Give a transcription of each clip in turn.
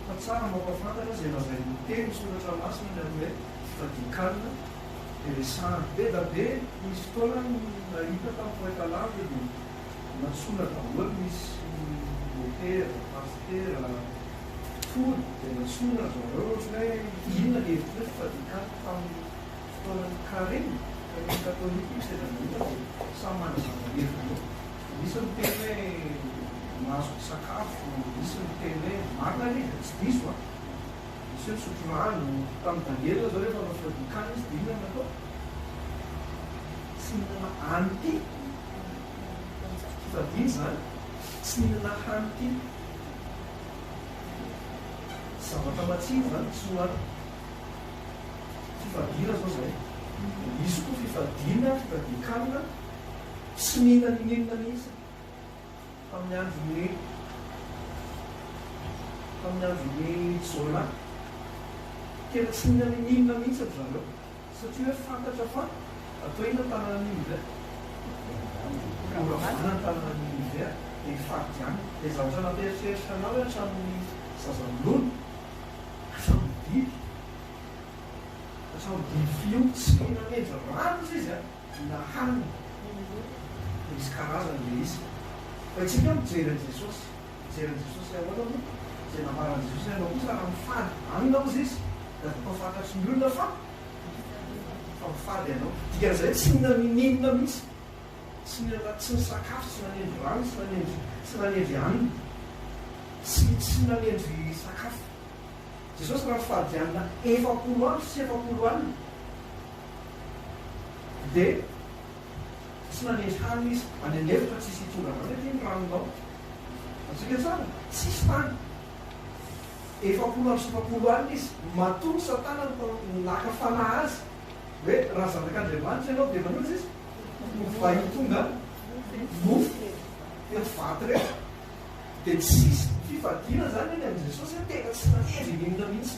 Fa tsara mampafantatra izay lazain'ny teny soratra masina ny amin'ny hoe fadin-kanina dia resahana. Be da be nisy fotoana nahita tamin'ny poeta lavitra dia nantsoina daholo nisy motera, pasitera, mpitory dia nantsoina ry zareo ohatran'ny hoe inona ny hevitr'ireo fa fadin-kanina tamin'ny fotoanan'ny Karemy, Karemy katolika io sendra nahita dia samy manazava heviny eo. Misy miteny hoe mahazo misakafo, misy miteny hoe marina anie dia tsy diso a! Misy hoe misotro rano, tamin'i Daniela izao rehefa nanao fivadin-kanina izy dia inona no natao? Tsy nihinana hanity, fivadin-dry izany, tsy nihinana hanity, zavatra matsiro izany tsy nohaniny, fifadiana izao izay, dia misy koa fifadiana, fivadin-kanina, Tsy mila n'inon'inona mihitsy amin'ny andron'i tamin'ny andron'i Jonah. Tena tsy mila n'inon'inona mihitsy ry zareo, satria hoe fantatra fa atao inona ny tanànan'i Ninive? Horavana ny tanànan'i Ninive, dia hifadianina. Ilay zavatra nampieritreritra anao hoe hatramin'ny zazaminono hatramin'ny biby, hatramin'ny biby fiompy tsy mihinan'henja maro hozy izy a! Vina hanina, misy karazany le izy. Fa isika mijery an'i Jesosy, mijery an'i Jesosy le ahoana moa zay nambaran'i Jesosy le anao kosa raha mifady hanina ozy izy de atao fantatry ny olona fa fa mifady ianao. Dikan'izay hoe tsy nina n'inon'inona mihitsy, tsy nina tsy nisakafo, tsy nanendry rano, tsy nanendry tsy nanendry hanina, tsy tsy nanendry sakafo. Jesosy raha mifady hanina efapolo andro sy efapolo alina. Dia tsy nanendry hanina izy. Any an'efitra tsisy hitondra anao nefa iny ranonao. Atsika tsara, tsisy tany. Efapolo amby sivifapolo alina izy. Matoa Satana naka fanahy azy hoe raha zanak'Andriamanitra ianao dia manoza izy fa hitondra mofo teto vato reto. Dia tsisy fifadiana izany eny amin'i Jesosy, tena tsy nanendry hihinana mihitsy.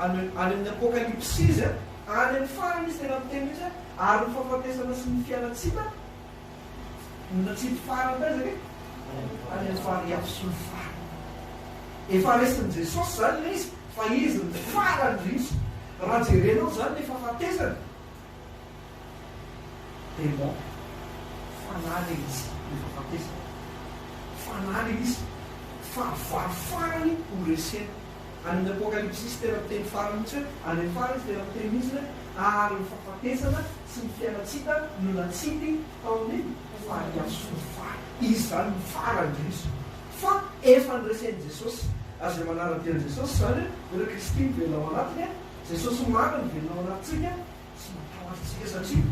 Any amin'ny Apokalypsy izy, any amin'ny farany izy tena miteny mihitsy hoe, ary ny fahafatesana sy ny fialantsina no tsy hety farany taiza ve? Any amin'ny farihy sy ny farany. Efa resin'i Jesosy izany ilay izy fa izy no farany indrindra. Raha jerenao izany ny fahafatesana. Démon. Fanahy ilay izy rehefa batesa. Fanahy ilay izy. Fahavalo farany ho resena. Any amin'ny Apokalypsy izy tena miteny farany mihitsy hoe, any amin'ny farany izy tena miteny mihitsy hoe, ary ny fahafatesana sy ny fialan-tsita no natsipy tao amin'ny fahadiavin'ny fary. Izy izany no farany indrindra izany. Fa efa noresen'i Jesosy. Ary izay manara-dia an'i Jesosy izany hoe, Ry Kristy mivelona ao anatiny. Jesosy marina no velona ao anatintsika sy matahotra antsika satria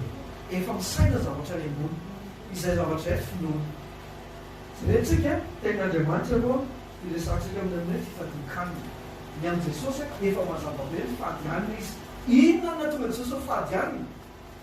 efa misaina ny zavatra any ambony, izay zavatra eto finoana. Jereo tsika tenin' Andriamanitra aloha hiresahantsika amin'ny amin'ny hoe fifadian-kanina. Ny amin'i Jesosy efa mazava be ny fady hanina izy. Inona no nahatonga Jesosy ho fady hanina?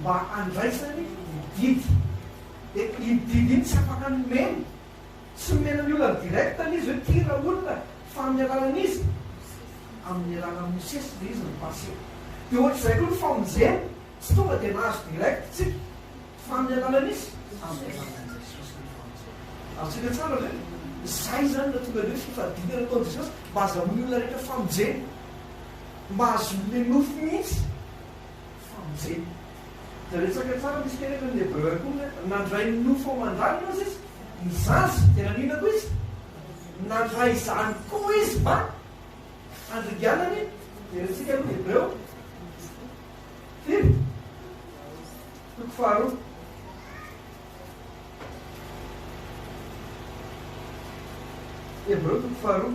mba handraisany ny didy. Dia iny didy iny tsy afaka nomeny, tsy nomena ny olona direct ilay izy hoe ty ilay olona fa amin'ny alalan'iza? Amin'ny alalan'i Mosesy ilay izy nopasena. Dia ohatr'izay koa ny famonjena, tsy tonga dia nahazo direct isika fa amin'ny alalan'iza? Amin'ny alalan'i Jesosy ny famonjena. Azontsika tsara ve? Izay izany no tonga dia hoe fifadiana nataon'i Jesosy mba hazahoan'ny olona rehetra famonjena, mba hahazoany ilay nofo mihitsy. famonjena. Dia resaka tsara misy kely eto ny Hebreo ihany koa hoe nandray ny nofo aman-dranony hozy izy, ny zaza. Dia naninona koa izy? Nandray izany koa izy mba handringanany. Jerentsika aloha ny Hebreo. Firy? Toko faharoa. Hebreo toko faharoa.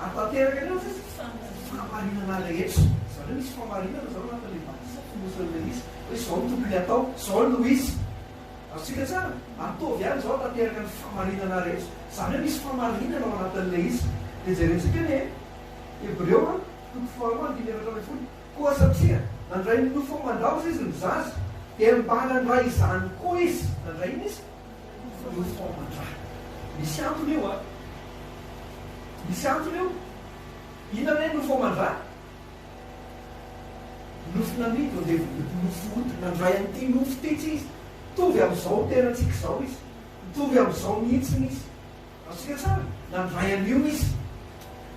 Hanatanteraka ireo fahamarinana rehetra. Zareo misy fahamarinana zao anatin'ilay batisa fonosin'ilay hoe izy hoe izao no tokony hatao, izao no izy. Azontsika tsara? Ataovy ihany izao hanatanteraka ny fahamarinana rehetra. Zareo misy fahamarinana ao anatin'ilay izy. Dia jerentsika ny Hebreo a, toko faharoa andininy efatra ambin'ny folo, Koa satria nandray ny nofo aman-daoza izy no zaza, dia mba nandray izany koa izy. Nandray inona izy? Io fômban-draha. Misy antony io an! Misy antony io! Inona re no fômban-draha? Nofo namidy ondevim-body nofo ody nandray an'ity nofo ity tsy izy. Mitovy amin'izao tenan-tsika izao izy. Mitovy amin'izao mihitsiny izy. Azontsika tsara? Nandray an'io izy.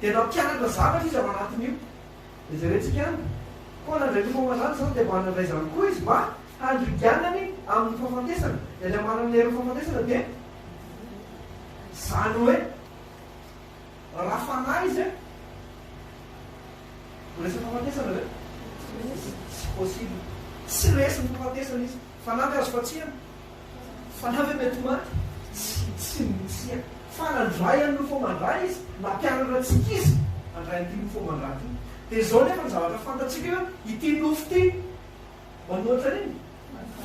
Dia nampianatra zavatra izy ao anatin'io. Jerentsika any koa Randriantomamandrana izao dia mba nandray izany koa izy mba handriganany amin'ny fahafatesana. Dia ilay manana ny hery amin'ny fahafatesana dia izany hoe raha fanahy izy an, ho resy amin'ny fahafatesana ve? Tsy possible. Tsy resy ny fahafatesana izy. Fanamby azo fatsiana. Fanamby an' mety ho maty. Tsy, tsy misia. Fa nandray an' ny nofo aman-draha izy, nampianatra antsika izy handray an' ity nofo aman-draha ity. Dia izao anefa ny zavatra fantatsika eo, ity nofo ity maninona ohatra an' iny?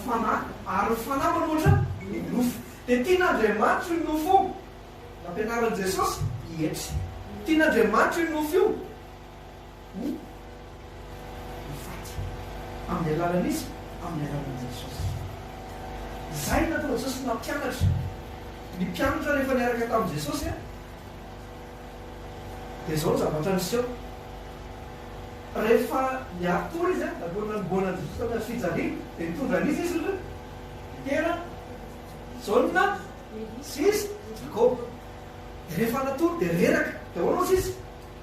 Fanahy. Ary ny Fanahy maninona ohatra an' ny nofo. Dia tian' Andriamanitra io nofo io. Nampianaran' i Jesosy hietry. Tian' Andriamanitra io nofo io. ny ny faty amin'ny alalan'iza? Amin'ny alalan'i Jesosy. Izay nataon'i Jesosy nampianatra ny mpianatra rehefa niaraka tamin'i Jesosy an, dia izao ny zavatra niseho. Rehefa niary tory izy an, nalohan'ny nanombohana an'i Jesosy tamin'ny hazo fijaliana, dia nitondra an'iza izy ireo? Petera, Jaona, sy iza? Jakoba. Dia rehefa natory dia reraka. Dia ahoana hozy izy?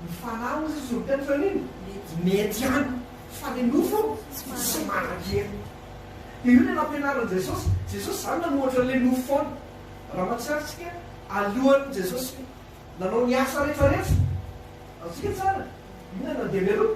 Mifahalalana hoy Jesosy ny teny fahiny, mety ihany fa ny nofo tsy manan-kery. Dia io ilay nampianarin'i Jesosy. Jesosy izany nanoratra ilay nofo foana. Raha mahatsiaro isika, alohan'ny Jesosy nanao ny asa rehefa rehetra, azontsika tsara, inona no nandeha mialoha?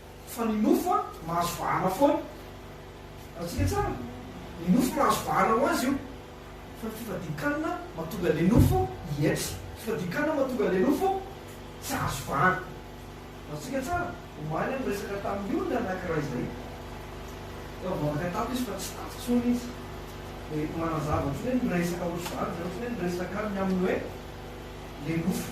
Fa ny nofo a, mahazo vahana foana. Azontsika tsara? Ny nofo mahazo vahana ho azy io. Fa ny fifadian-kanina mahatonga an'ilay nofo hietry. Ny fifadian-kanina mahatonga an'ilay nofo tsy hahazo vahana. Azontsika tsara? Omaly aho niresaka tamin'ny olona anankiray izay. Efa mivavaka tato izy fa tsy tato intsony izy. Dia manazava ohatran'ny hoe niresaka ohatr'izany izy, ohatran'ny hoe niresaka aminy amin'ny hoe ilay nofo.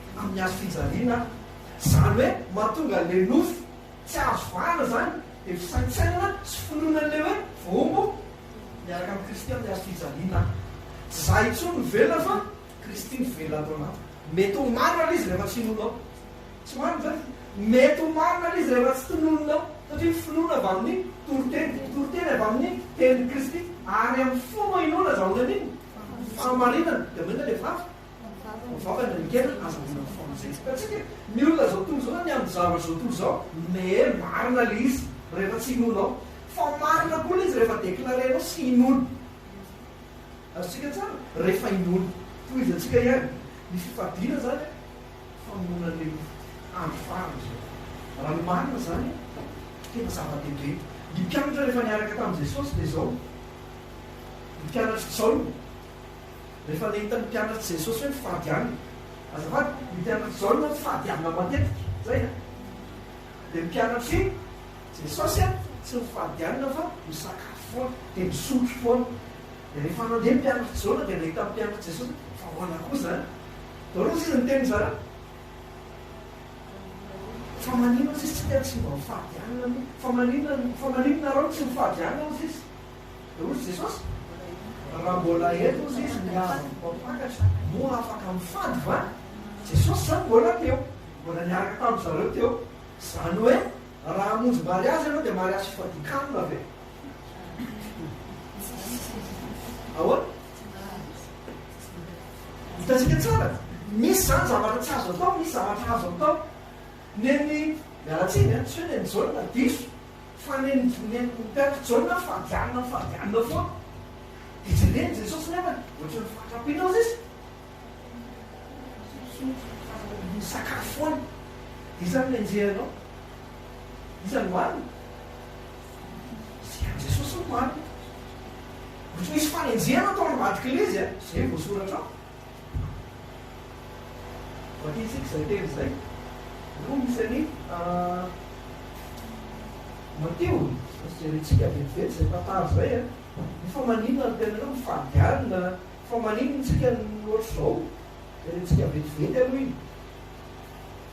amin'ny hazo fijaliana aho. Izany hoe mahatonga an'ilay nofo tsy azo vahana izany dia fisaintsainana sy finoana an'ilay hoe voahombo miaraka amin'i Kristy amin'ny hazo fijaliana aho. Tsy izaho intsony no velona fa Kristy no velona ato anatiko. Mety ho marina ilay izy rehefa tsy inoanao. Tsy marina izany? Mety ho marina ilay izy rehefa tsy tononinao. Satria ny finoana avy amin'ny toriteny, ny toriteny avy amin'ny tenin'i Kristy ary amin'ny fo no inoana azahoana an'iny fahamarinana. Dia maninona ilay vavaka? Mivavaka ny ekena azahoana ny fotoana izay tsy hitantsika ny olona zao tontolo zao na ny amin'ny zavatra zao tontolo zao mais marina le izy rehefa tsy inoanao fa marina koa le izy rehefa declarenao sy inoana azontsika tsara rehefa inoana tohizantsika ihany ny fifadiana zany a famonoana an'le mofo andro farany zao raha ny marina zany tena zava-dehibe ny mpianatra rehefa niaraka tamin'i Jesosy dia zao ny mpianatr'i Jaona Rehefa nahita ny mpianatr'i Jesosy hoe mifady hanina, azafady, ny mpianatr'i Jaona moa mifady hanina matetika, zay an! Dia ny mpianatr'i Jesosy an, tsy mifady hanina fa misakafo foana, dia misotro foana. Dia rehefa nandeha ny mpianatr'i Jaona dia nahita ny mpianatr'i Jesosy hoe fa ahoana koa izany? Dia ahoana hozy izy niteny izany? Fa maninona hozy izy tsy te tsy mba mifady hanina aloha? Fa maninona, fa maninona nareo no tsy mifady hanina hozy izy? Rojo Jesosy? Raha mbola ela ozy izy ny hazo voampakatra moa afaka mifady va? Jesosy zany mbola teo, mbola niaraka tamin-dry zareo teo. Zany hoe raha hamonjy mariazy ianao dia mariazy fifadian-kanina ve? Ahoana? Hitantsika tsara, misy zany zavatra tsy azo atao, misy zavatra azo atao. Neny, miala tsiny an, tsy hoe neny Jaona, diso. Fa ny nivonen'ny mpitarika, Jaona fa janona fa janona foana. Dia jeren'i Jesosy nefa ohatran'ny fahatrampinao izy izy. Misotro fa misakafo foana. Iza no henjehina anao? Iza no hanina? Sehatry Jesosy no marina. Ohatry misy fanenjehana tao ambadik'ilay izy a, izay no voasoratra ao. Vakia tsika izay teny izay. Roa misy an'i Matio. Sao jerentsika vetivety izay tantara izay an! Dia fa maninona no tena hoe mifady alina? Fa maninona isika no ohatr'izao? Jerentsika vetivety aloha iny.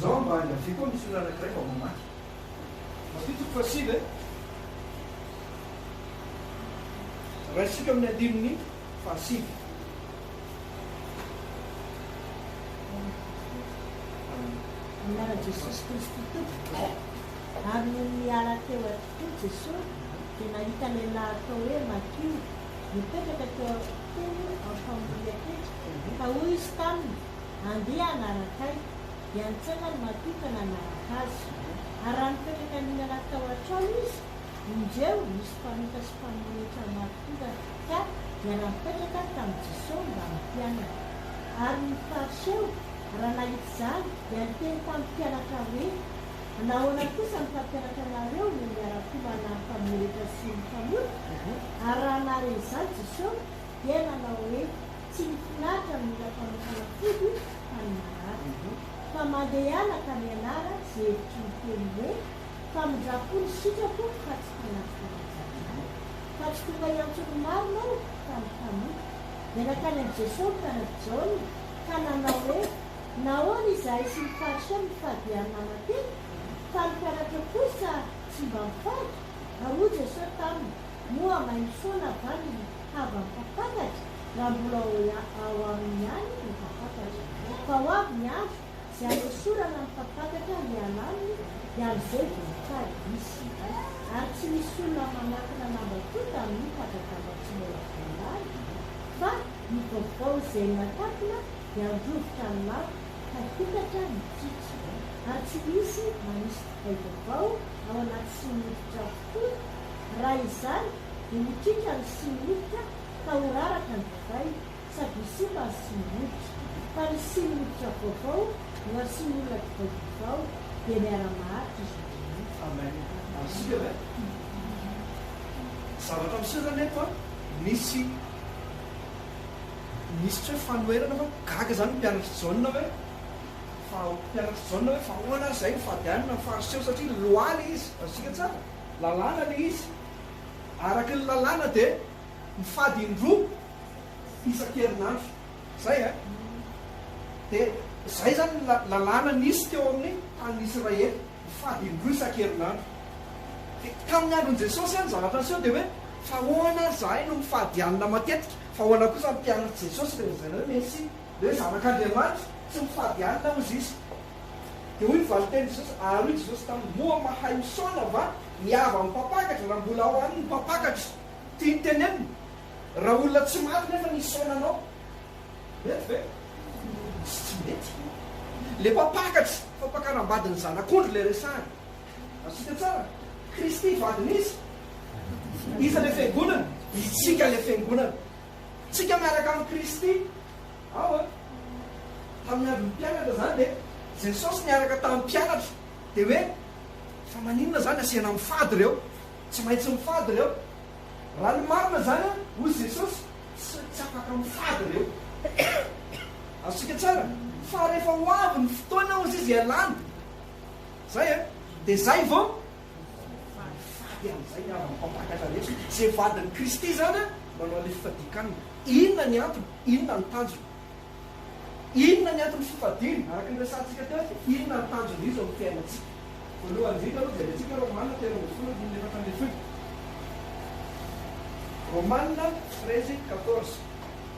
Zao mba ahy avia koa misy olona anankiray vao mamaky. Matio toko fahasivy e. Raisika amin'ny andininy fahasivy. Amin'ny anaran'i Jesosy Kristy Tompoko e. Ary nony niala teo atokoa Jesosy dia nahita lehilahy atao hoe Matio mipetraka teo akokony amin'ny famorian-ketra, ka hoy izy taminy, Andeha hanaraka ahy, dia nitsangan' ny matohitra nanaraka azy. Ary raha nipetraka nihinana tao an-trano izy, indreo, nisy mpanota sy mpamory hetra maro tonga ka dia nampetraka tamin'i Jesoa mba hampianany. Ary ny Fariseo, raha nahita izany, dia niteny tamin'ny mpianatra hoe, Nahoana kosa ny mpampianatra anareo no miara-komana amin'ny mpamory hetra sy ny mpamota? Ary raha nahare izany Jesoa, dia nanao hoe, tsy ny mpianatra no mila fanokana fody fa ny marary. Fa mandehana ka mianara ze hevitry ny teny hoe, famindram-po ny sitrako fa tsy tanaty fanajanahary. Fa tsy tonga hiantso ny marina aho fa ny mpanompoko. Dia nankany amin'i Jesoa ny taranak'i Jaona ka nanao hoe, nahoana izahay sy ny Fariseo mifady ihany manantena, fa ny mpianatra kosa tsy mba mifady? Ary hoy Jesoa taminy, moa mahay misaona va ny Hava mpampakatra raha mbola ao aminy ihany ny mpampakatra. Fa ho avy ny andro izay hanesorana ny mpampakatra hiala aminy dia amin'izay vao hitady izy ireo. Ary tsy misy olona manakona lamba koa tamin'io tapa-damba tsy mbola voalany fa ny vaovao izay nakatona dia handrovitra ny lamba ka hokatra ny kitra. Ary tsy misy manisy divay vaovao ao anaty sinoridra fo raha izany dia mikiaka ny similotika ka ho raraka ny divay sady ho simba ny similotika. Fa ny similotika vaovao no asian'ny olona divay vaovao dia miara-maharitra izy roa mihitsy. Amen Isika ve? Zavatra miseho zany eto an, nisy nisy tsy hoe fanoherana fa gaga zany ny mpianatr'i Jaona hoe fa mpianatr'i Jaona hoe fa ahoana ary izay ny fady any na fariseo satria lois le izy, azontsika tsara? lalàna le izy. Araka ny lalàna dia mifady indroa isankerinandro zay a! Dia zay zany ny lalàna nisy teo amin'ny tanin'ny Israely, mifady indroa isankerinandro. Dia tamin'ny andron'i Jesosy zany zavatra niseho dia hoe fa ahoana ary zahay no mifady hanina matetika fa ahoana kosa ny mpianatr'i Jesosy ilay lazaina hoe Mesia, ilay hoe zanak'Andriamanitra, tsy mifady hanina hozy izy. Dia hoy ny valin-tenin'i Jesosy, ary hoy Jesosy taminy, Moa mahay misaona va ny havan'ny mpampakatra raha mbola ao aminy ny mpampakatra? Tiany tenenina, Raha olona tsy maty nefa ny hisaona anao, mety ve? Tsy tsy mety. Ilay mpampakatra, fampakaram-badin'ny zanak'ondry ilay resahany. Azontsika tsara? Kristy vadin'iza? Iza ilay Fiangonana? Isika ilay Fiangonana. Isika miaraka amin'i Kristy Ao a! Tamin'ny andron'ny mpianatra izany dia Jesosy niaraka tamin'ny mpianatra dia hoe, fa maninona izany asiana mifady ireo? Tsy maintsy mifady ireo. Raha ny marina izany an, hoy Jesosy, tsy tsy afaka mifady ireo. Azontsika tsara fa rehefa ho avy ny fotoana hozy izy hialany, izay an, dia izay vao Mifidy fa hifady amin'izay avy amin'ny mpampakatra ny hetsiny. Izay vadin'i Kristy izany an, manao an'ilay fifadian-kanina. Inona ny antony? Inona ny tanjony? Inona ny anton'ny fifadiana? Araka ny resahantsika teo dia inona ny tanjon'izy io eo amin'ny fiainantsika? Voalohany indrindra aloha, jerentsika Romana telo ambin'ny folo andininy efatra ambin'ny folo. Romana treize quatorze.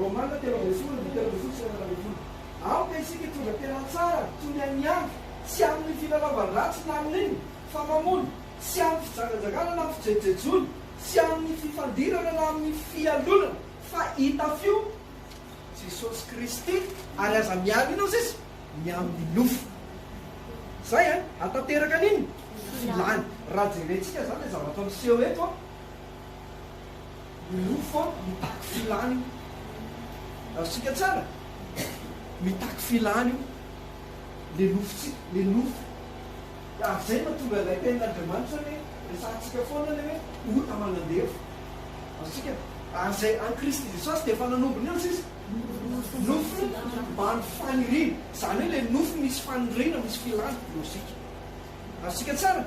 Romana telo ambin'ny folo andininy telo ambin'ny folo sy fahenina ambin'ny folo Aoka isika hitondra tena tsara toy ny an'i Andry, tsy amin'ny filalaovan-dratsy na amin'ny inona, fa mamono, tsy amin'ny fijangajangana na amin'ny fijejojejoana, tsy amin'ny fifandirana na amin'ny fialonana, fa itafio Jesosy Kristy ary aza miaro inona sisa ny amin'ny nofo. Izay an! Hahatanteraka an'inona? Filany. Raha jerentsika izany ilay zavatra miseho eto an! Milofo a, mitaky filany io. Azontsika tsara? Mitaky filany io le lofontsika, le nofo. Ary zay no tonga ilay tenin'Andriamanitra le resahantsika foana le hoe ota aman'andevo. Azontsika? Ary zay any Kristy Jesosy dia efa nanombo ny ansa izy. Nofo maro faniriana. Zany hoe le nofo misy faniriana, misy filana, logika. Azontsika tsara?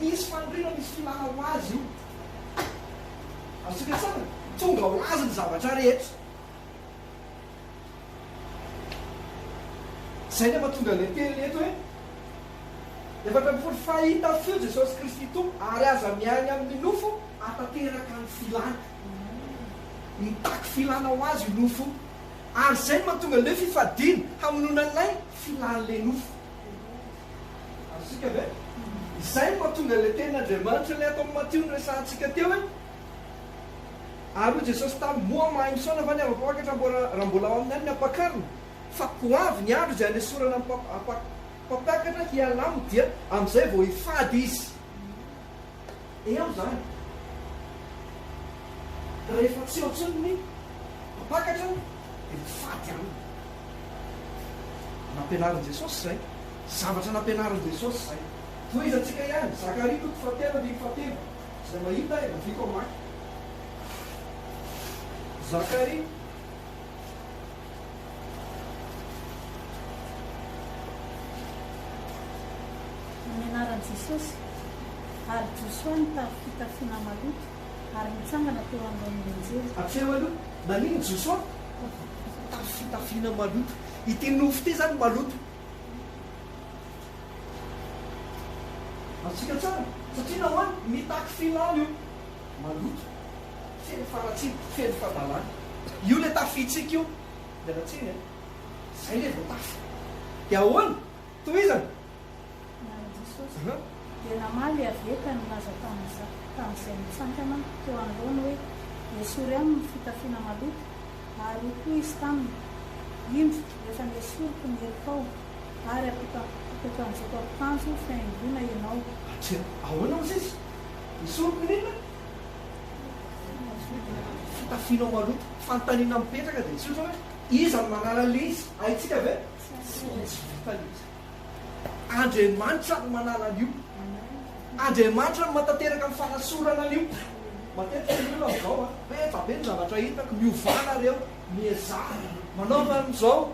Misy faniriana, misy filana ho azy io. Azontsika sahana? Tonga ho azy ny zavatra rehetra. Izay no mahatonga ilay teny eto hoe, Efatra ambin'ny folo, Fa i Tafio, Jesosy Kristy Tompo, ary aza miahy amin'ny nofo hahatanteraka ny filàna. Mitaky filàna ho azy io nofo io. Ary izay no mahatonga an'ilay fifadiana hamonoana an'ilay filàn'ilay nofo. Azontsika ve? Izay no mahatonga ilay tenin'Andriamanitra ilay ato amin'ny Matio noresahantsika teo hoe, Ary hoy Jesosy taminy, Moa mahay misaona va ny ava-pampakatra raha mbola ao aminy any ny ampakariny? Fa ho avy ny andro izay hanesorana ny mpampakatra hialamo, dia amin'izay vao hifady izy. Eo izany. Rehefa tsy eo intsony ny mpampakatra dia ho faty aminy. Nampianarin'i Jesosy izay. Zavatra nampianarin'i Jesosy izay. Tohizantsika ihany, Zakaria toko fahatelo andininy fahatelo. Izay mahita, aleviako hamaky. Zakaria. Amin'ny anaran'i Jesosy! Ary Josoa nitafy fitafiana maloto ary nitsangana teo anoloan'ny anjely. Ampiharo aloha, naninona Josoa nitafy fitafiana maloto? Ity nofo ity izany maloto. Azontsika tsara, satria nahoana? Mitaky filàna io. maloto, feno faharatsiana, feno fadalana. Io le tafintsika io. Miala tsiny a. Zay le vao tafy. Dia ahoana? Tohizana. Nany Jesosy dia namaly avy eo ka nilaza tamin'izay nitsangana teo anoloany hoe, Esory aminy ny fitafiana maloto. Ary hoy koa izy taminy, Indro, efa nesoriko ny helokao, ary apetanjiko akanjo fihaingoana ianao. Hatreto. Ahoana hozy izy? Ny solompirina? Fitafianao maloto. Fanontaniana mipetraka dia tsotra hoe, iza no manala ilay izy? Haintsika ve? Tsy vitany izy. Andriamanitra no manala an'io. Andriamanitra no matateraka ny fanasorana an'io. Matetika ny olona amin'izao an, be da be ny zavatra hitako, miovàna ireo, miezaha, manaova an'izao,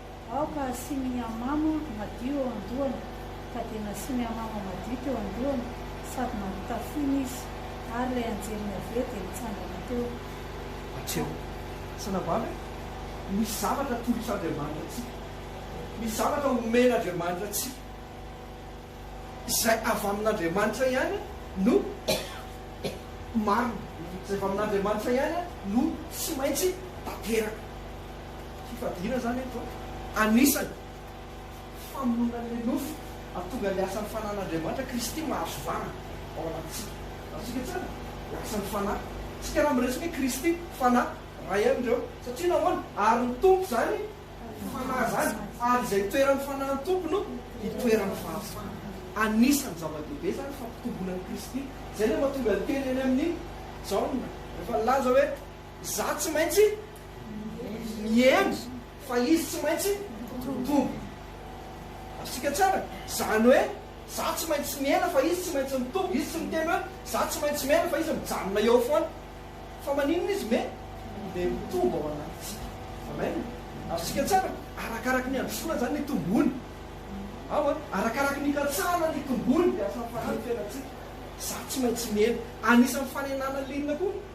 Aoka hasiany hamama madio eo an-dohany. Ka dia nasiany hamama madio teo an-dohany sady nampitafiany izy. Ary ilay anjelin'i Yaveh dia nitsangana teo. Matseo. Sanabavy e, misy zavatra atolotr'Andriamanitra antsika. Misy zavatra omen'Andriamanitra antsika. Izay avy amin'Andriamanitra ihany no marina. Izay avy amin'Andriamanitra ihany no tsy maintsy tanteraka. Fifadiana izany eto anisany famonoana ilay nofo hahatonga ny asan'ny Fanahin'Andriamanitra Kristy mahazo vahana ao anatintsika. Azontsika tsara ny asan'ny Fanahy. Isika raha miresaka hoe Kristy, Fanahy, iray ihany ireo. Satria nahoana? Ary ny Tompo izany Fanahy izany, ary izay toeran'ny Fanahin'ny Tompo no itoeran'ny fahafahana. Anisan'ny zava-dehibe izany fampitomboana an'i Kristy. Izay ilay mahatonga ny teny eny amin'ny Jaona rehefa nilaza hoe. Izaho tsy maintsy mihendry fa izy tsy maintsy mitombo. Azontsika tsara? Izany hoe, izaho tsy maintsy mihena fa izy tsy maintsy mitombo. Izy tsy miteny hoe, izaho tsy maintsy mihena fa izy mijanona eo foana. Fa maninona izy me? Me mitombo ao anatintsika. Amen. Azontsika tsara? Arakaraky ny handrosoana izany ny tombony. Ao an? Arakaraky ny hikatsahana ny tombony dia asampahany ny fiainantsika. Izaho tsy maintsy mihena. Anisan'ny fanenana liana koa.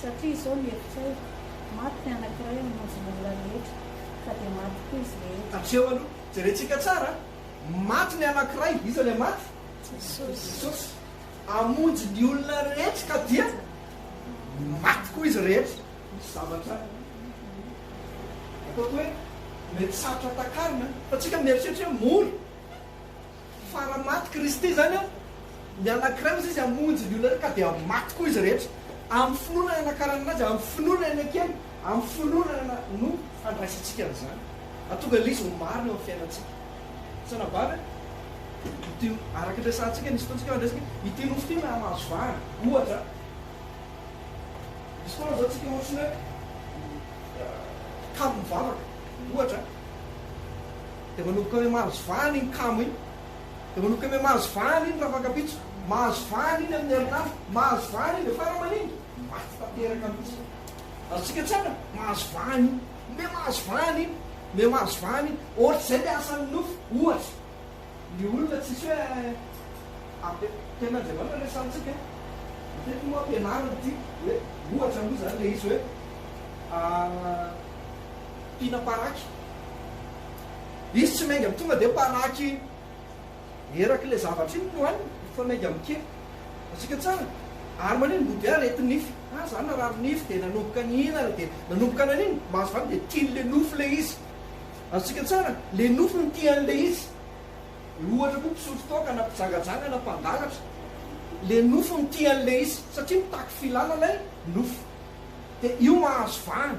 Satria izao ny hevitrao, maty ny anankiray hamonjy ny olona rehetra, ka dia maty koa izy rehetra. Hatreo aloha, jerentsika tsara an! Maty ny anankiray, iza ilay maty? Jesosy. Hamonjy ny olona rehetra, ka dia maty koa izy rehetra. Misy zavatra ataoko hoe mety sarotra takarina, fa tsika mieritreritra hoe mora. Fa raha maty Kristy izany an, ny anankiray ozy izy hamonjy ny olona rehetra ka dia maty koa izy rehetra. Amin'ny finoana ny anakaranana azy, amin'ny finoana ny anakely, amin'ny finoana no handraisantsika an'izany. Hahatonga ilay izy ho marina eo amin'ny fiainantsika. Tsy anabavy an? Ity, araka ny resahantsika, nisy fotoana tsika hoe ity nofo ity na mahazo vahana, ohatra. Misy fotoana izao tsika ohatry ny hoe kamo mivavaka, ohatra. Dia manomboka hoe mahazo vahana iny kamo iny. Dia manomboka hoe mahazo vahana iny rafakampitso. Mahazo vahana iny amin'ny herinandro. Mahazo vahana iny dia fara aman'iny maty tanteraka mihitsy. Azontsika tsara ny mahazo vahana iny. Omeo mahazo vahana iny. Omeo mahazo vahana iny. Ohatr'izay ny asan'ny nofo, ohatra. Ny olona tsisy hoe ampe, Tenin'Andriamanitra resahantsika e. Matetika moa ampianarina ity hoe, ohatra moa izany ilay izy hoe, Tiana paraky. Izy tsy miainga tonga dia paraky eraky ilay zavatra iny no aniny fa miainga amin'ny kely. Hitantsika tsara. Ary manina ny bouddha? Areti nify. Ah za narary nify dia nanomboka nihinana dia nanomboka nanino? Mahazo vahana dia tiany ilay nofy ilay izy. Azontsika tsara? Ilay nofy no tiany ilay izy. Ohatra koa mpisotro toaka na mpijangajanga na mpangalatra. Ilay nofy no tiany ilay izy. Satria mitaky filana ilay nofy. Dia io mahazo vahana.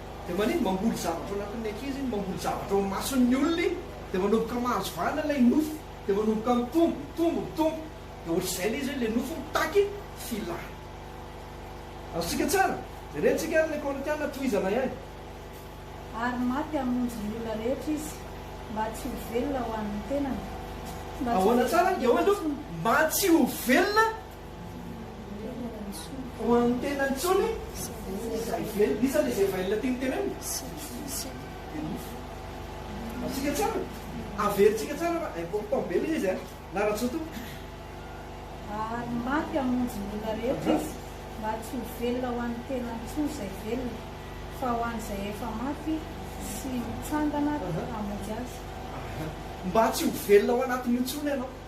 Dia manindry mamboly zavatra ao anatin'ny ankizy iny, mamboly zavatra ao imason'ny olona iny, dia manomboka mahazo vahana ilay nofo, dia manomboka mitombo, mitombo, mitombo, dia ohatr'izay ilay izy hoe ilay nofo mitaky filàna. Azontsika tsara? Jerentsika ary ilay Korintiana tohizana ihany. Ary maty hamonjy ny olona rehetra izy, mba tsy ho velona ho an'ny tenany, mba tsy ho velona intsony. Ahoana tsara? Dia hoy aloha, mba tsy ho velona. Ho an'ny tenany intsony izay velona. Iza ilay izay velona tiany tenenina? Dia nofo. Amintsika tsara. Averintsika tsara fa important be ilay izy an! Na Rajoto. Ary maty hamonjy ny olona rehetra izy, mba tsy ho velona ho an'ny tenany intsony izay velona, fa ho an'izay efa maty sy mitsangana hamonjy azy. Mba tsy ho velona ao anatiny intsony ianao.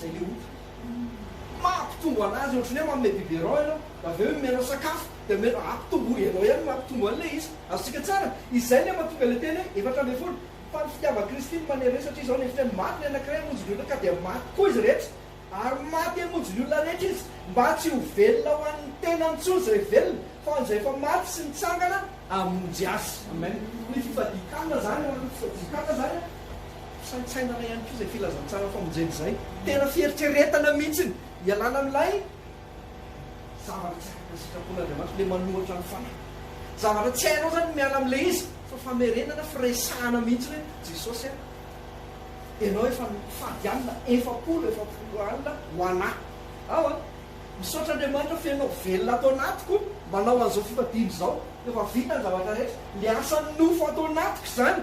Zay le ota. Maha mpitombo anazy ohatry ny hoe manome biberon ianao dia avy eo omenao sakafo dia omenao aah mpitombo ianao ihany no maha mpitombo an'ilay izy. Azontsika tsara. Izay le mahatonga ilay teny hoe efatra ambin'ny folo. Fa ny fitiavan Kristy no manery hoe satria izao no hevitany maty ny anankiray hamonjy ny olona ka dia maty koa izy rehetra. Ary maty hamonjy ny olona rehetra izy mba tsy ho velona ho an'ny tenany intsony izay velona fa ho an'izay efa maty sy nitsangana hamonjy azy. Amen. Ny fifadian-kanina izany an, ny fifadian-kanina izany an. Saintsainana ihany koa izay filazantsara famonjena izay. Tena fieritreretana mihitsiny ialana amin'ilay zavatra tsy araka ny sitrapon'Andriamanitra, ilay manohitra ny fanahy. Zavatra tsy hainao izany ny miala amin'ilay izy, fa famerenana, firesahana mihitsiny hoe, Jesosy a, Ianao efa nitady alina efapolo efapolo alina ho an'ahy. Ao a! Misaotra Andriamanitra feno velona ato anatiko manao an'izao fifadiana izao. Efa vita ny zavatra rehetra. Ilay asan'ny nofo ato anatiko izany.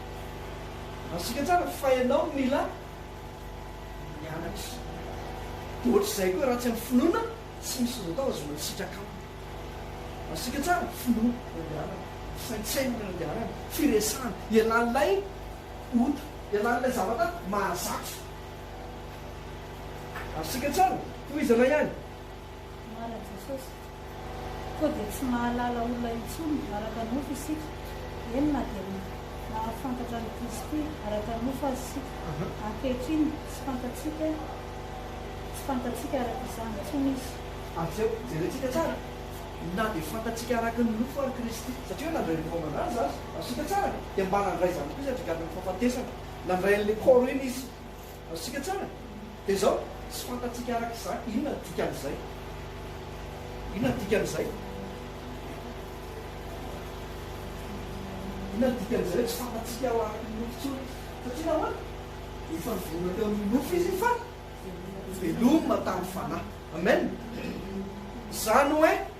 Azontsika tsara fa ianao no mila mianatra. Dia ohatr'izay koa raha tsy amin'ny finoana, tsy misy azo atao fa azonao sitraka aminy. Azontsika tsara finoana ny andehanany, fisaintsainana ny andehanany, firesahana, ialàn'ilay ota, ialàn'ilay zavatra mahazatra. Azontsika tsara, tohizo iray ihany. Marina Jesosy. Koa dia tsy mahalala olona intsony araka nofo isika, eny na dia nahafantatra an'i Kristy araka nofo aza isika. Ankehitriny tsy fantatsika tsy fantatsika araka izany intsony Izy. Atsy ao, jerentsika tsara, na dia fantatsika araka ny nofo ary Kristy, satria hoe nandray ny fanaovana Azy aza, azontsika tsara, dia mba nandray izany koa Izy handringanana ny fahafatesana. Nandray an'ilay Koro iny Izy. Azontsika tsara dia izao, tsy fantatsika araka izany inona no dikan'izay. Inona no dikan'izay? Inona no dikan'izay hoe tsy fantatsika ho araka ny nofo intsony? Satria nahoana? Efa nivelona teo amin'ny nofo izy fa veloma tamin'ny fanahy. Amen. Izany hoe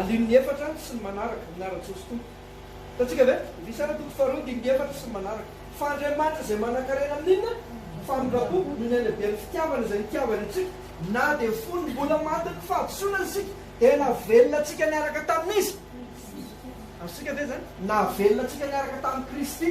Andininy efatra sy ny manaraka, Miara-Jesosy Tompo. Hitantsika ve? Indrisy ara toko faharoa andininy efatra sy ny manaraka. Fa Andriamanitra izay manan-karena amin'ny inona? Famindram-po, noho ny halehiben'ny fitiavana izay nitiavany antsika, na dia fony mbola matin'ny fahadisoana isika, dia navelona antsika niaraka tamin'Izy. Azontsika ve izany? Navelona antsika niaraka tamin'i Kristy.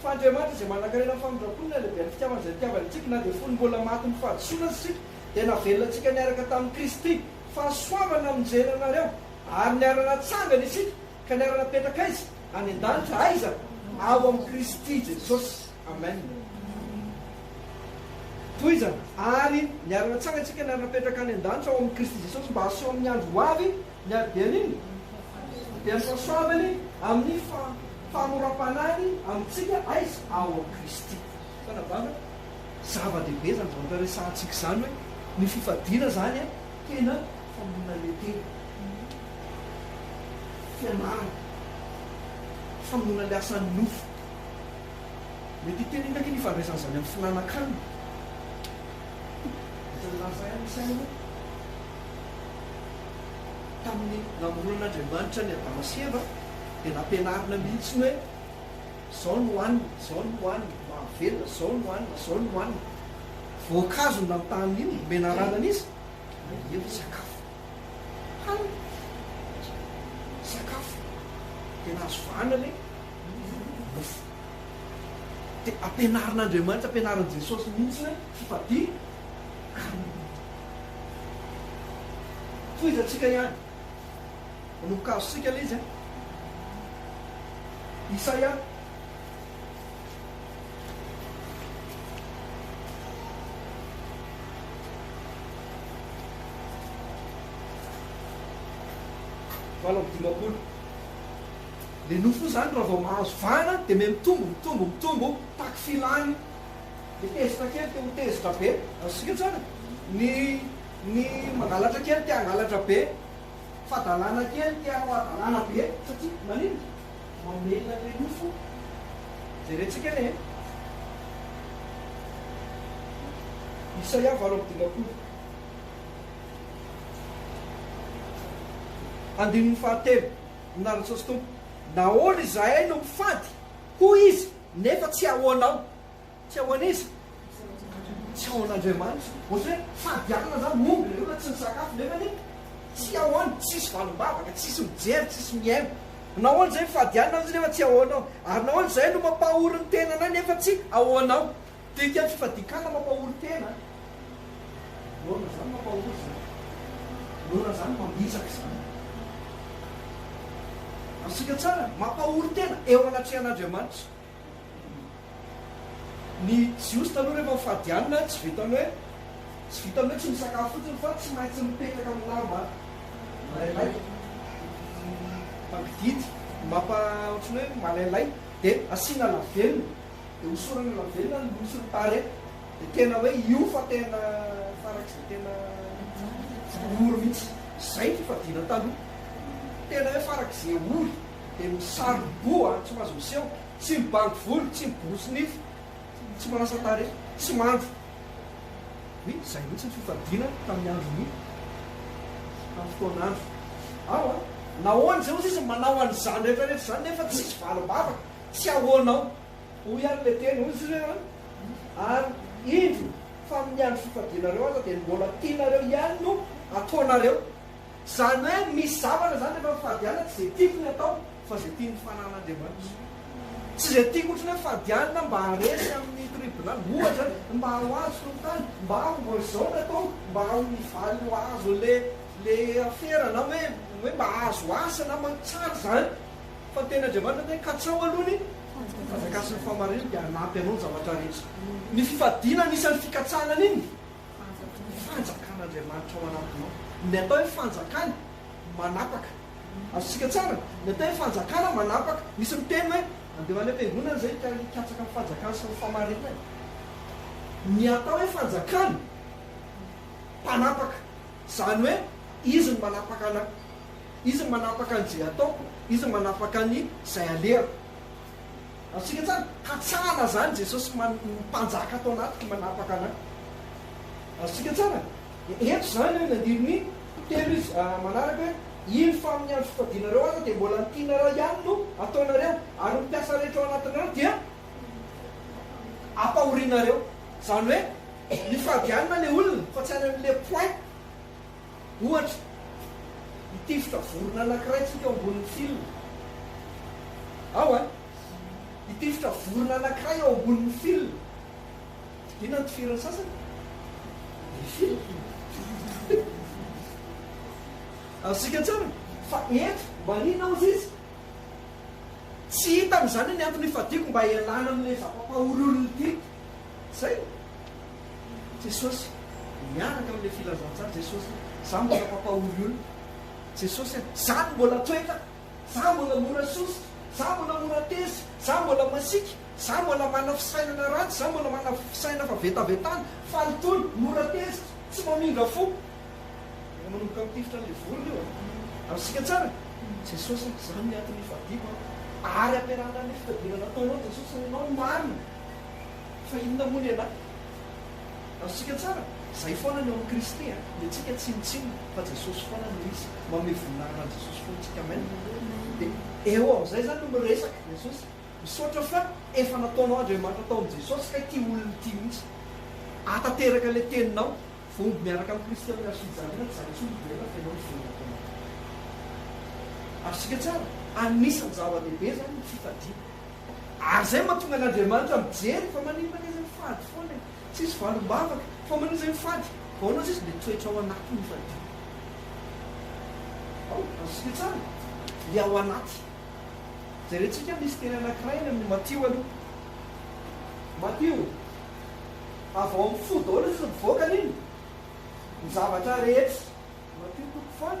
Fa Andriamanitra izay manankarena amin'ny famindram-pony ny halehiben'ny fitiavany izay nitiavany antsika, na dia fony mbola maty ny fahadisoana aza isika, dia navelona antsika niaraka tamin'i Kristy. Fahasoavana no nijery anareo, ary niara-natsangana isika, ka niara-napetraka aiza? Any an-danitra. Aiza? Ao amin'i Kristy Jesosy. Amen. Tohizana, Ary niara-natsangana isika, niara-napetraka any an-danitra, ao amin'i Kristy Jesosy, mba haseho amin'ny andro ho avy, Ny habibianiny dia ny fahasoavany amin'ny fahamoram-panahiny amintsika aiza? Ao amin'i Kristy. Tena banga. Zava-dehibe izany zavatra resahantsika izany hoe ny fifadiana izany tena famonoana tena. Fianarana. Famonoana ilay asan'ny nofo. Mety hiteny inona akia ny ifandraisan'izany amin'ny finanankanina? Isan'ny lazain'ny saina. Tamin'ny namoronan'Andriamanitra an'i Adama sy Eva dia nampianarina mihitsy ny hoe izao no hohanina, izao no hohanina, mahavelona, izao no hohanina, izao no hohanina. Voankazo no nanontaniny iny, nomena anarana an'iza? An'i Eva, sakafo. Hanina, sakafo. Tena azo vahana ilay nofo. Dia ampianarin'Andriamanitra, ampianarin'i Jesosy mihitsy ny hoe fifadia. Tohizantsika ihany. Manopy kazontsika ilay izy an. Isaia. Valo amby dimampolo. Ilay nofo izany raha vao mahazo vahana dia miha-mitombo, mitombo, mitombo, taky filany. Dia tezitra kely te ho tezitra be, azontsika tsara? Ny, ny mangalatra kely te hangalatra be, fadalana kely te hanao hadalana be, satria maninona? Mamelona an'ilay nofo. Jerentsika anie e! Isaia valo amby dimampolo. Andininy fahatelo, Nary Jesosy Tompo, nahoana izahay no mifady, hoy Izy, nefa tsy ahoanao? Tsy ao an'iza? Tsy ao an'Andriamanitra. Ohatra hoe fady alina zany no omby nareo raha tsy nisakafo nefany tsy ao any, tsisy valim-bavaka, tsisy mijery, tsisy mihaino. Nahoana izay mifady alina aza nefa tsy ao anao? Ary nahoana izahay no mampahory ny tenanay nefa tsy ao anao? Dikan'ny fifadian-kanina mampahory tena an! Nahoana izany mampahory izany? Nahoana izany mambitsaka izany? Azontsika tsara, mampahory tena eo anatrehan'Andriamanitra. Ny Jiosy taloha rehefa mifady hanina, tsy vitan'ny hoe tsy vitan'ny hoe tsy misakafo fotsiny fa tsy maintsy mipetraka amin'ny lamba malailay. Mangidihidy, ny mapa ohatran'ny hoe malailay dia asiana lavenona, dia hosorana lavenona ny loha sy ny tarehy. Dia tena hoe io fa tena farak'izay tena ory mihitsy. Izay ny fifadiana taloha. Tena hoe farak'izay ory. dia misarom-boa, tsy mahazo miseho, tsy mibandy volo, tsy miborosy nify, tsy manasa tarehy, tsy mandro. Oui, izay mihitsy ny fifadiana tamin'ny andron'ny tamin'ny fotoan'andro. Ao an! Nahoana izay hozy izy no manao an'izany rehetra rehetra izany nefa tsisy valim-bavaka? Tsy ahoana ao? Hoy ary ilay teny, hozy izy hoe, Ary indro fa amin'ny andro fifadianareo aza dia ny mbola tianareo ihany no ataonareo. Izany hoe misy zavatra izany rehefa mifadianina tsy izay tiako ny atao fa izay tian'ny fanan'Andriamanitra. Tsy izay tiako otriny hoe fadianina mba haharesy amin'ny tribonaly ohatra, mba ho azo solitany, mba ho mba izao ny atao, mba ho mivaly ho azo ilay ilay afera na hoe hoe mba hahazo asa na ma tsara izany fa ny tenin'Andriamanitra dia hoe katsao aloha ny fahazakasin'ny fahamarinana dia hanampy anao ny zavatra rehetra. Ny fifadiana anisan'ny fikatsahana an'inona? Ny fanjakan'Andriamanitra ao anatinao. Ny atao hoe fanjakana, manapaka. Azontsika tsara? Ny atao hoe fanjakana, manapaka. Misy miteny hoe, andeha ho any am-piangonana izay hikatsaka ny fanjakana sy ny fahamarinana. Ny atao hoe fanjakana, mpanapaka. Izany hoe, Izy no manapaka anà. Izy no manapaka an'izay ataoko. Izy no manapaka an'izay alehako. Azontsika tsara hatsahana izany, Jesosy Mpanjaka ato anatiko manapaka anay. Azontsika tsara ento izany eo ny andininy telo izy manaraka hoe, Iny fa amin'ny andro fifadianareo aza dia mbola ny tianareo ihany no ataonareo, ary ny mpiasa rehetra ao anatinareo dia ampahorianareo. Izany hoe, mifady ihany na ilay olona fa tsy any amin'ilay point. Ohatra, hitifitra vorona anankiray tsika ao ambonin'ny fil ao a. Hitifitra vorona anankiray ao ambonin'ny fil. Inona no tifirin'ny sasany? Ny fil. Azontsika tsara fa eto mba inona hozy izy? Tsy hitany izany ny antony ifadiako mba hialana amin'ilay zava-pahoriorina ity. Izay. Jesosy miaraka amin'ilay filazantsara Jesosy hoe za mbola mpampahory olona Jesosy a! za no mbola toetra za mbola mora sositra za mbola mora tezitra za mbola masiaka za mbola mana fisainana ratsy za mbola mana fisainana fa vetavetana faly tony mora tezitra tsy mamindra fo efa manomboka mitifitra an'ilay vorona io a! azontsika tsara Jesosy a! za no miato ny hifadiako a! ary ampiarahana amin'ilay fitadiavana ataonao Jesosy a! ianao no marina Fa inona moa ny anà? Azontsika tsara? Izay foana ny ao amin'i Kristy a! Ny antsika tsinontsinona fa Jesosy foana no izy. Manome voninahitra an'i Jesosy foana isika. Amen! Dia eo amin'izay izany no miresaka Jesosy. Misaotra fa efa nataonao Andriamanitra tao amin'i Jesosy kay ity olona ity mihitsy. Ahatanteraka ilay teninao, voamby miaraka amin'i Kristy amin'ny hazo fijaliana, tsy izany intsony velona fa ianao no velona tao anatiny. Azontsika tsara? Anisan'ny zava-dehibe izany ny fifadiana. Ary izay mahatonga an' Andriamanitra mijery fa maninona ange izay fady foana e! Tsisy valim-bavaka. Fa maninona izay ny fady? Vao ahoana sisa dia toetra ao anaty no fadiana. Ao, azontsika tsara ilay ao anaty. Jerentsika misy teny anankiray any amin'ny Matio aloha. Matio. Avy ao amin'ny fo daholo sisa mivoaka ny inona? Ny zavatra rehetra. Matio toko faha.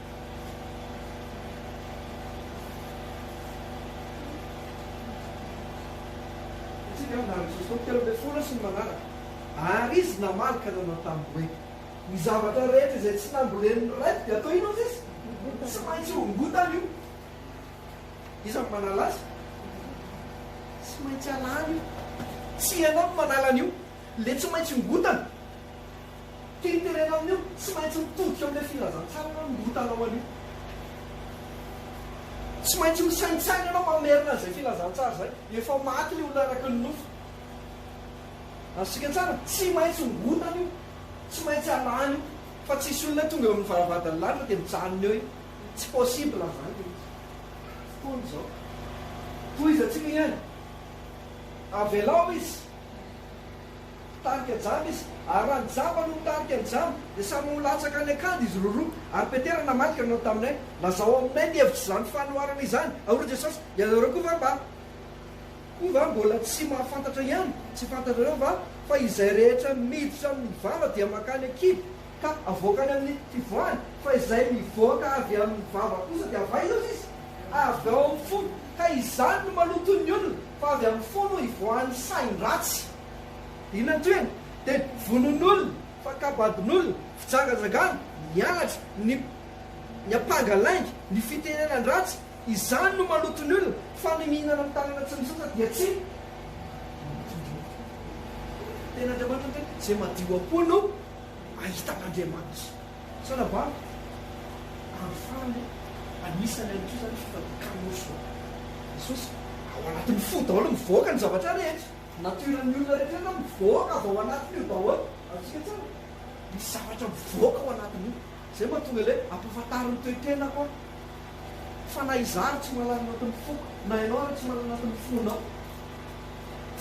Satria dia andalana Jesosy tamin'ny telo ambin'ny folo sy ny manaraka. Ary Izy namaly ka nanao taminy hoe, Ny zavatra rehetra izay tsy nambolen'ny Raiko dia atao inona aza izy? Tsy maintsy hongotana io. Iza no manala azy? Tsy maintsy alana io. Tsy ianao no manala an'io. Ilay tsy maintsy hongotana. Tiany tenenina amin'io, tsy maintsy mitodika amin'ilay filazantsara ianao no hitanao an'io. Tsy maintsy misaintsaina ianao fa merina an'izay filazantsara izay. Efa maty ilay olona araky ny nofo. Azontsika tsara? Tsy maintsy hongotana io, tsy maintsy halany io. Fa tsisy olona tonga eo amin'ny varavaran-dalilana dia mijanona eo iny. Tsy possible izany ilay izy. Hoy izao. Tohizantsika ihany. Avelao izy. Mpitarika jamba izy, ary raha ny jamba no mitarika ny jamba, dia samy ho latsaka any an-kady izy roroa. Ary Petera namadika nanao taminay, Lazao aminay ny hevitr' izany fanoharana izany, ao ry Jesosy, ianareo koa va mba, koa va mbola tsy mahafantatra ihany? Tsy fantatrareo va fa izay rehetra miditra amin' ny vava dia mankany an-kibo, ka avoaka any amin' ny fivoahany? Fa izay mivoaka avy amin' ny vava kosa dia avy aiza hoy izy? Avy ao amin' ny fo, ka izany no maloto ny olona, fa avy amin' ny fo no ivoahan' ny sain-dratsy. Ilan-tohina dia vonoan'olona, fakam-badin'olona, fijangajangana, ny halatra, ny ny ampanga lainga, ny fitenenan-dratsy, izany no maloto ny olona fa ny mihinana ny tanana tsy misasa dia tsy madio ny ampoko. Ny tenin'Andriamanitra ohatra hoe izay madio am-po no ahita an'Andriamanitra. Sao lava amiko? Andro farany anisany amin'ity izany ny fifadian-kanina hosoka. Jesosy, ao anatin'ny fo daholo mivoaka ny zavatra rehetra. Nature ny olona rehetra rehetra mivoaka avy ao anatiny io daholo, azontsika tsara. Misy zavatra mivoaka ao anatiny io, izay mahatonga ilay ampahafantarin'ny toe-tenako aho, fa na izaho ary tsy mahalala ny anatin'ny foko, na ianao ary tsy mahalala ny anatin'ny fonao,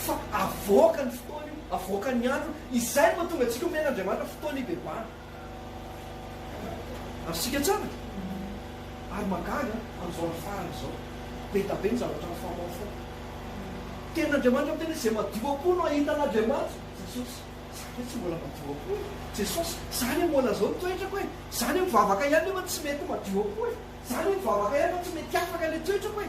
fa avoakan'ny fotoana io, avoakan'ny andro io, izay mahatonga antsika omena Andriamanitra fotoana hibebahana. Azontsika tsara ary mahagaga amin'izao andro farany izao, be da be ny zavatra mifamaofao. Tenin'Andriamanitra miteny hoe, izay madio am-po no hahita an'Andriamanitra. Jesosy, za ve tsy mbola madio am-po e? Jesosy, za anie mbola izao ny toetrako e! Za anie mivavaka ihany nefa tsy mety madio am-po e! Za anie mivavaka ihany fa tsy mety afaka ilay toetrako e!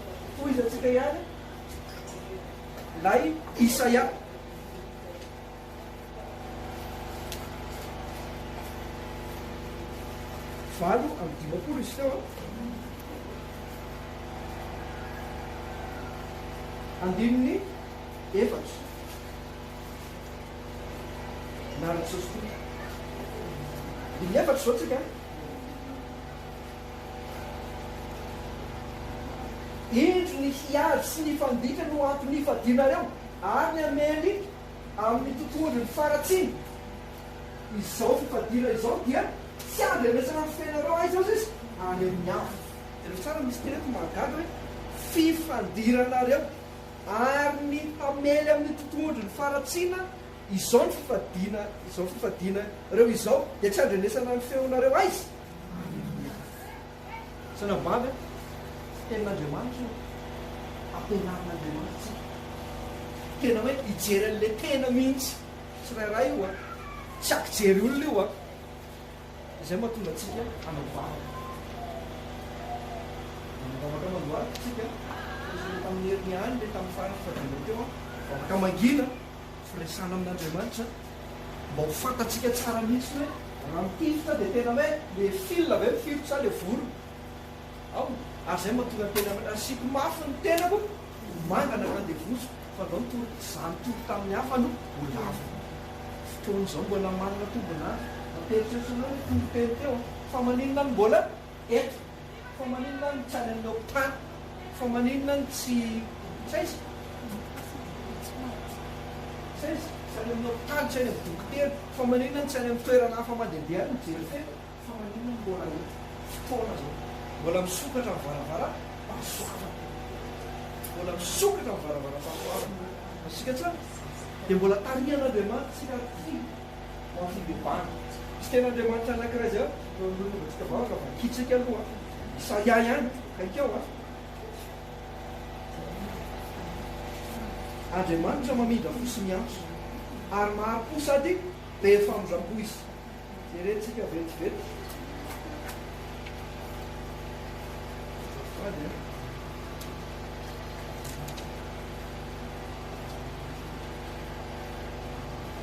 Tohizantsika ihany ilay Isaia. Valo amby dimampolo izy teo. Andininy efatra. Naraka Jesosy Tompo. Andininy efatra izao tsika. Indro ny hiady sy ny fandikany no antony ifadianareo ary ny Amerika amin'ny tontolony faratsiny. Izao fifadiana izao dia tsy handrenesana ny fiainareo aiza aza izy ary amin'ny hafa. Jereo tsara misy teny eto mahagaga hoe fifandiranareo ary ny hamely amin'ny tontolony faratsina izao ny fifadiana izao fifadiana reo izao dia tsy handrenesana ny feonareo aiza. Zana-bavy a! Tenin'Andriamanitra io, ampianarin'Andriamanitra antsika tena hoe hijery an'ilay tena mihitsy tsirairay io a! Tsy ampijery olona io a! Izay no mahatonga antsika hanao vavaka. Nanao vavaka amandohalika isika, fa nisy ilay tamin'ny heriny ihany ilay tamin'ny faran'ny fivadianao teo an, vavaka mangina. Firesahana amin'Andriamanitra mba ho fantatsika tsara mihitsy hoe raha mitifitra dia tena hoe le fil ve mifirotra sa le volo ao ary izay mahatonga ny tena mena. Asiako mafy ny tenako ho manga na handevozo fa ndao nitory za nitory tamin'ny hafa no ho lava. Fotoan'izao mbola manana tombon'andro, mampieritreritra anao le toriteny teo an! Fa maninona no mbola eto? Fa maninona no tsy any amin'ny hopitaly? Fa maninona no tsy. Tsy aiza? Tsy aiza? Tsy any amin'ny hopitaly, tsy any amin'ny dokotera. Fa maninona no tsy any amin'ny toerana hafa mandehandeha any mijery fety? Fa maninona no mbola ho fotoana izao? Mbola misokatra ny varavaram-pahasoavana. Mbola misokatra ny varavaram-pahasoavana. Azontsika tsara? Dia mbola tarihan'Andriamanitra isika ary tia. Mampifindimbandy. Tsy tena Andriamanitra anankiray izay aho no hampilonovantsika vavaka fa ankihitrika aloha Isaia ihany haikao a! Andriamanitra mamindra fo sy miantso ary mahari-po sady be famindram-po Izy. Jerentsika vetivety. Azafady a!